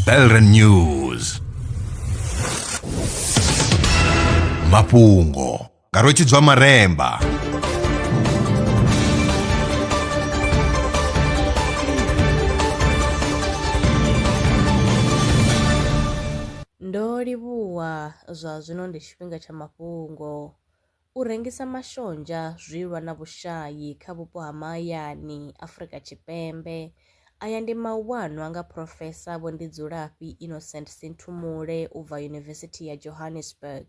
Belren News mafhungo nga rwetshidzwa maremba Ndo livhuwa zwa zwino ndi tshifhinga tsha mafhungo. U rengisa mashonzha zwi lwa na vhushayi kha vhupo ha mahayani Afrika Tshipembe. Aya ndi mauwano a nga Phrofesa Vho Ndidzulafhi Innocent Sinthumule u bva Yunivesithi ya Johannesburg.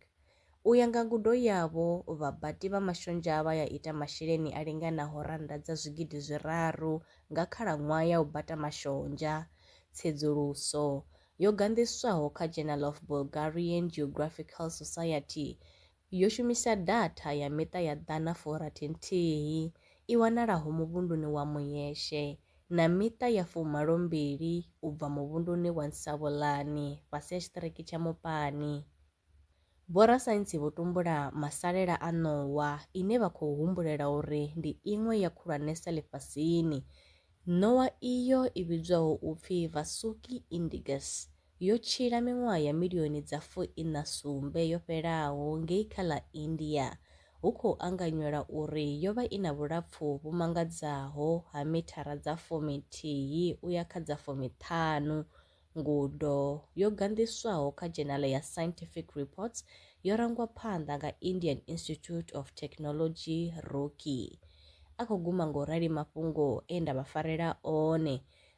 U ya nga ngudo yavho, vhabati vha mashonzha vha ya ita masheleni a linganaho rannda dza zwigidi zwiraru nga khalaṅwaha ya u bata mashonzha. Tsedzuluso yo ganḓiswaho kha Journal of Bulgarian Geographical Society Yo shumisa datha ya miṱa ya ḓana furathi nthihi i wanalaho muvhunduni wa Muyeshe na miṱa ya fumalo mbili u bva muvhunduni wa Nsavhulani fhasi ha tshiṱiriki tsha Mupani. Vhorasaintsi vho tumbula masalela a ṋowa ine vha khou humbulela uri ndi iṅwe ya khulwanesa ḽifhasini. Ṋowa iyo i vhidzwaho u pfi Vasuki indigus yo tshila miṅwaha ya milioni dza fu iṋa sumbe yo fhelaho ngei kha ḽa India, hu khou anganyelwa uri yo vha i na vhulapfu vhu mangadzaho ha mithara dza fumi nthihi u ya kha dza fumi ṱhanu. Ngudo yo ganḓiswaho kha dzhenale ya Scientific Reports yo rangwa phanḓa nga Indian Institute of Technology, Roorkee. A khou guma nga u rali mafhungo e nda vha farela one